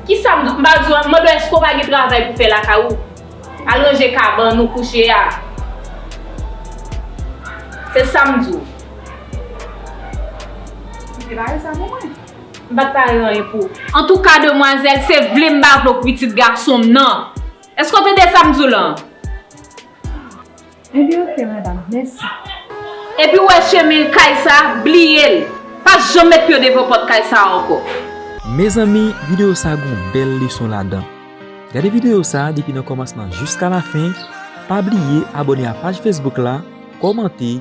Kisa m ba di w a? M mande w èske w pa gen travay pou fè lakay ou? Al ranje kabann ou kouche a. Se sa m di w. Ou te pare sa pou mwen? M pa t pare anyen pou ou. Antouka demwazèl, se vle m pa vle w k pitit gason m nan. Èske w tande sa m di w lan? Ebyen ok madam mèsi. Epi ou wè chemin kay sa bliyel pa janm met pyew devan pòt kay sa ankò. Mezanmi video sa gon bèl leson ladan gade video sa depi nan kòmansman jiska lafen pa bliye abòne a paj Facebook la kòmante.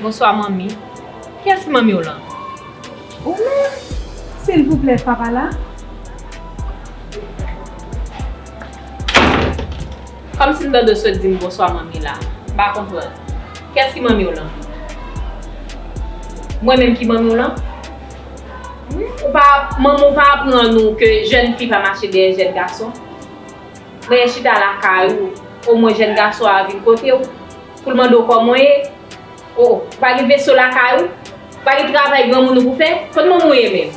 Bonswa manmi, kiyès ki manmiw lan? Ou menm? Silvouplè papa la? Kòmsi m ta dwe sot dim bonswa manmi la? M pa konprann. Kiyès ki manmiw lan? Mwen menm ki manmiw lan? Manmiw pa aprann ou ke jèn fi pa mache dèyè jèn gason? Reyè chita lakay ou, o mwen jèn gason a vin kote ou, pou l mande w kòman w ye, o, ou pa gen veso lakay ou, ou pa gen travay granmoun ou pou fè, konn manman w ye menm?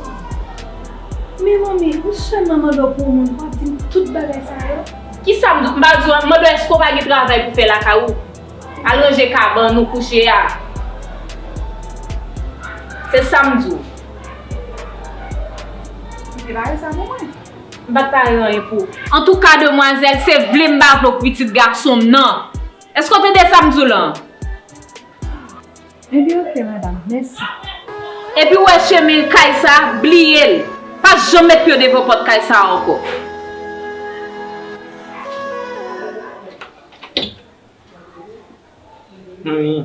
O, men manmi, ou sèlman mande w pou w moun pou w ap di m tout bagay sa yo? Kisa m, m pa di w, m mande w èske w pa gen travay pou fè lakay ou, al ranje kabann ou kouche a, se sa m di w. Prepare sa pou mwen. M pat pare anyen pou ou. Antouka demwazèl, se vle m pa vle w k pitit gason m nan. Eske w tande sa m di w lan? Ebyen ok madam, mèsi. Epi w wè chemen kay sa, bliye l. Pa janm met pye w devan pòt kay sa a ankò. Hum.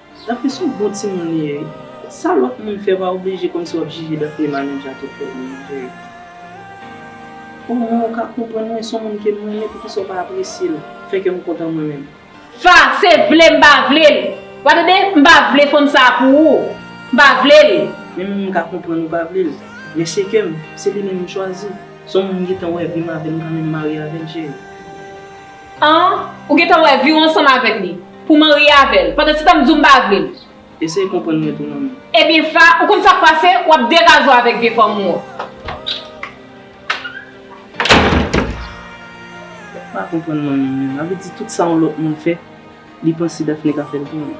Daphnée son bon timoun li ye wi. Sa lòt moun fè pa oblije kòmsi wap jije Daphnée Manouja te fè li an vre O mwen ou ka konprann mwen son moun kem renmen poukisa ou pa apresyel fè kèm kontan mwen menm. Fase vle m pa vle l. Wa tande m pa vle fanm sa pou ou m pa vle l. Men menm m ka konprann ou pa vle l men se kèm se li menm m chwazi son moun m gentan wè vim avèl m ka menm marye avèl cheri. An, ou gen tan wè vi w ansanm avèk li, pou w marye avè l. Pandansetan m di w m pa vle l. Eseye konprann mwen tou manmi. Ebyen Fa, ou konn sa k pase, w ap degaje w avèk vye fanm ou an. Ou pa konprann manmi menm. Sa vle di tout sa yon lòt moun fè, li panse Dafne ka fè l tou menm.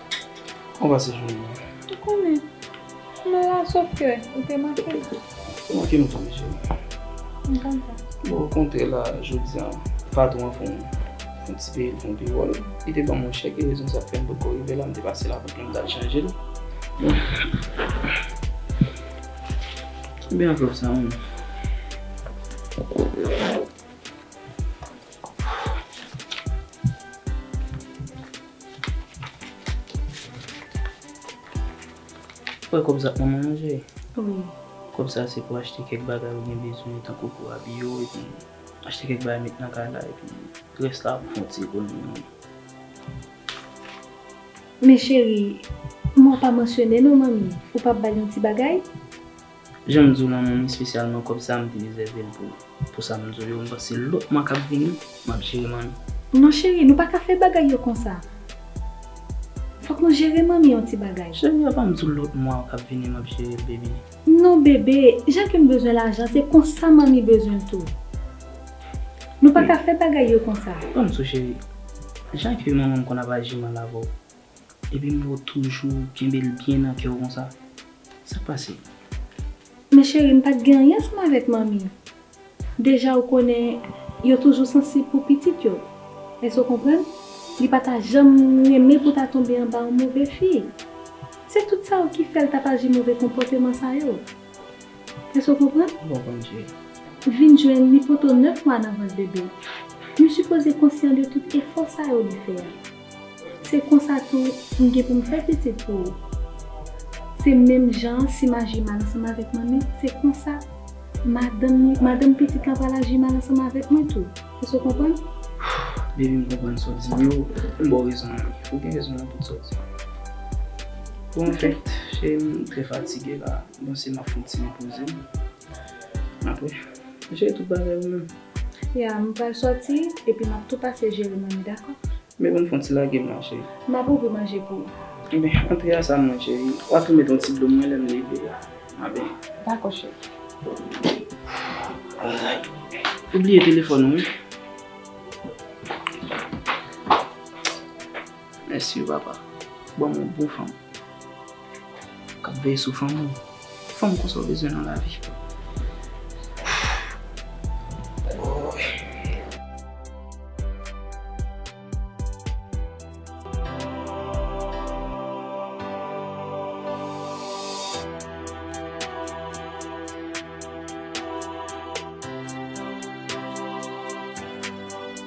Ou pa se joun mwen. Ou konnen. M la sof ke ou te manke m. Ou manke m tou wi cheri. M konn sa. Bon ou kontre la jodi an. Patwon an fon yon ti peye l fon pi wòl. Li te banm yon chèk e rezon sa k fè m potko rive la m te pase lapote mwen pou m tal chanje l. Konbyen anvlòp sa menm? Wè kòb sa pou manman manje? Wi. Kòb sa se pou achte kèk bagay ou gen bezwen tankou pou abiye w epi achte kèk bagay met nan kay la epi rès la pou fè yon ti ekonomi manman. Men cheri, manman w pa mansyone non manmi ou pa bay yon ti bagay? Janm diw lan moun espesyalman kòb sa mte rezèvel pou pou sam diw yo mpanse se lòt mwa kap vini map jere manmi. Non cheri nou paka fè bagay yo konsa fòk nou jere manmi yon ti bagay. Cheri avanm diw lòt mwa kap vini map jerel baby. Non bebe jan kem bezwen lajan se konsa manmi bezwenl tou nou paka fè bagay yo konsa. Banm sou cheri jan ke manmanm konn ap aji mal avèw Epi m wè w toujou kenbe l byen nan kè w konsa. Sa k pase? Men cheri m pat gen anyen sou m avèk manmi. Deja ou konnen yo toujou sansib pou pitit yo. Èske w konprann? Li pa ta janm renmen pou ta tonbe anba yon move fi. Se tout sa yo ki fè l t ap aji move konpòteman sa yo. Èske w konprann? Bon Bondye. Vin jwenn li poto 9 mwa nan vant bebe. Nou sipoze konsyan de tout efò sa yo li fè a. Se konsa tou pou m gen pou m fè pitit pou ou. Se menm jan an si m aji mal ansanm avèk manmi, se konsa madanm ni, madanm pitit lan pral aji mal ansanm avèk mwen tou. Èske w konprann? Bebi, m konprann sa w di, men ou m ba w rezon an wi. Ou gen rezon nan tout sa w di. Bon, anfèt, cheri m, m trè fatige la. M panse m ap fè yon ti repoze m. Map jere tout bagay ou menm. Ya, m pral sòti epi map tou pase jere manje dakò? Men banm fon ti lage manje. Map ouvri manje pou ou. Enben antre a sa mwen cheri. Wa tou met yon ti dlo mwen lèm leve a. Map byen. Dakò cheri. Alright. Ou bliye telefòn ou wi. Mèsi papa ou banm yon bon fanm kap veye sou fanmi ou ki fanm konsa ou bezwen nan lavi oohh.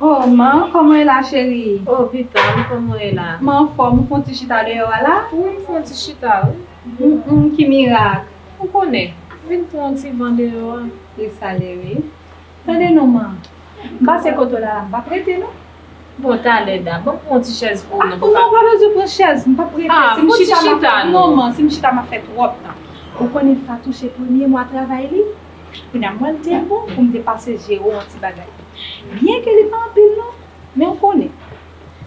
Oh man, kòman e la cheri? Oh Vita, m kòman e la? M anfòm, ou fon ti chita deyò a la? Wi, m fon ti chita wi. Hum, ki mirak! Ou konnen, m vin pran yon ti van deyò a. Li sale wi. Tande non man, m pase kote w la la m pa prete non. Bon talè da, banm pran yon ti chèz pou ou non pou pa. Non pa bezwen pran chèz, m pap prete. Ah, si m chita ma fè. Fon ti chita non. Non man, si m chita ma fè twòp tan. Ou konnen Fatou se premye mwa travay li. Kounye a mwen l te bon pou m te pase jere w yon ti bagay. Byen ke li pa anpil non, men ou konnen.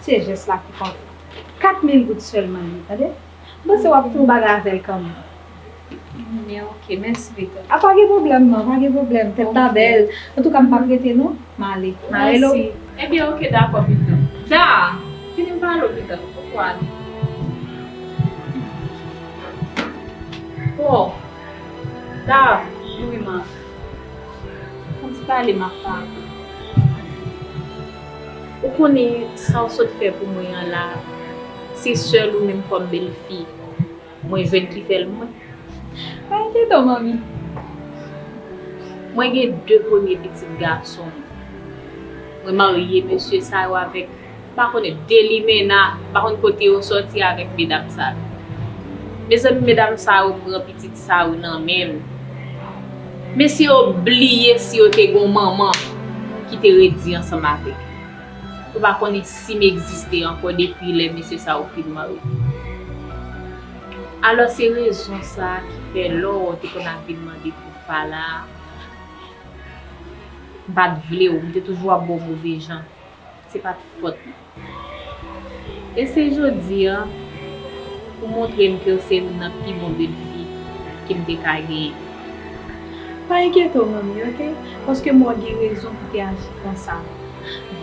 Se jès la ki konte. Kat mil goud sèlman li ye tande. M panse w ap fè yon bagay avè l kanmenm. Epiline, Ok, mèsi Rita. A pa gen pwoblèm nan, pa gen pwoblèm. Tèt la bèl. Antouka m pa p rete non. M ale. M ale lo. Mèsi. Ebyen ok dakò Pita. Da! Fini m pale w Pita. Ou ko ale. Bon! Da! Joui m ak. An ti pale m ap pale. Ou konnen sa w sot fè pou mwen an la, se sèl ou menm kòm bèlfi. Mwen jwenn ki fèl mwen. Ay tento manmi. Mwen gen 2 premye pitit gason m. Mwen marye mesye sa yo avèk m pa konnen 2 limena m pa konn kote yo sòti avèk medam sa yo. Mezanmi medam sa yo pran pitit sa yo nan men m. Mesye yo bliye si yo te gon manman ki te redi ansanm avèk yo. Ou pa konnen si m egziste ankò depi lè mesye sa yo fin mare. Alò se rezon sa a ki fè lò ou te konn ap vin mande pou w pa la a, m pa t vle w, m te toujou ap ba w move jan. Se pa t fòt mwen. E se jodi a ou montre m ke w se youn nan pi bon belfi ke m te ka genyen. Pa enkyete w manmi ok, paske m wè w gen rezon pou w te aji konsa.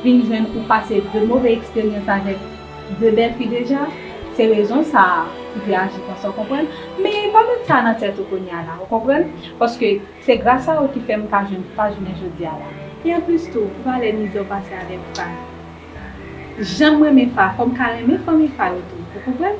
vin jwenn ou pase 2 move eksperyans avèk 2 bèl fi deja, se rezon sa a ou te aji konsa w konprann, men pa met sa nan tèt ou kounya la ou konprann, paske se gras a ou ki fè m ka jwenn Fran jounen jodi a la. E anplis tou, ou pa wè mizè w pase avèk Fran, jan m renmen Fran fò m ka renmen fanmi Fran yo tou ou konprann.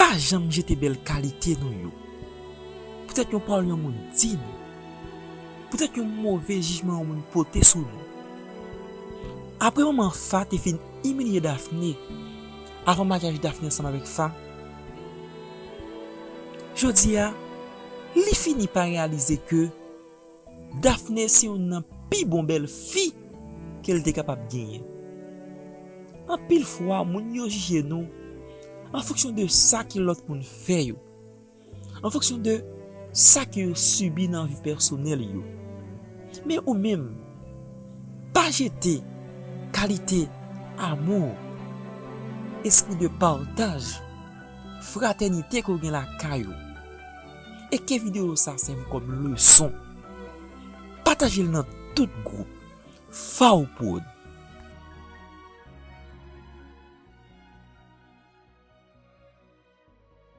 Pa janm jete bèl kalite nou yo. Poutèt yon pawòl yon moun di nou. Poutèt yon move jijman yon moun pote sou nou. Apre manman Fa te fin imilye Dafne avan maryaj Dafne ansanm avèk Fa, jodi a li fini pa reyalize ke. Daphné se youn nan pi bon bèl fi ke l te kapab genyen. Anpil fwa moun yo jije nou an fonksyon de sa ke lòt moun fè yo, an fonksyon de sa ke yo sibi nan vi pèsonèl yo. Men ou menm, pa jete kalite amou, espri de pataj, fratènite ke w gen lakay ou. e ke video sa sèvi kòm leson patajel nan tout group faw prod.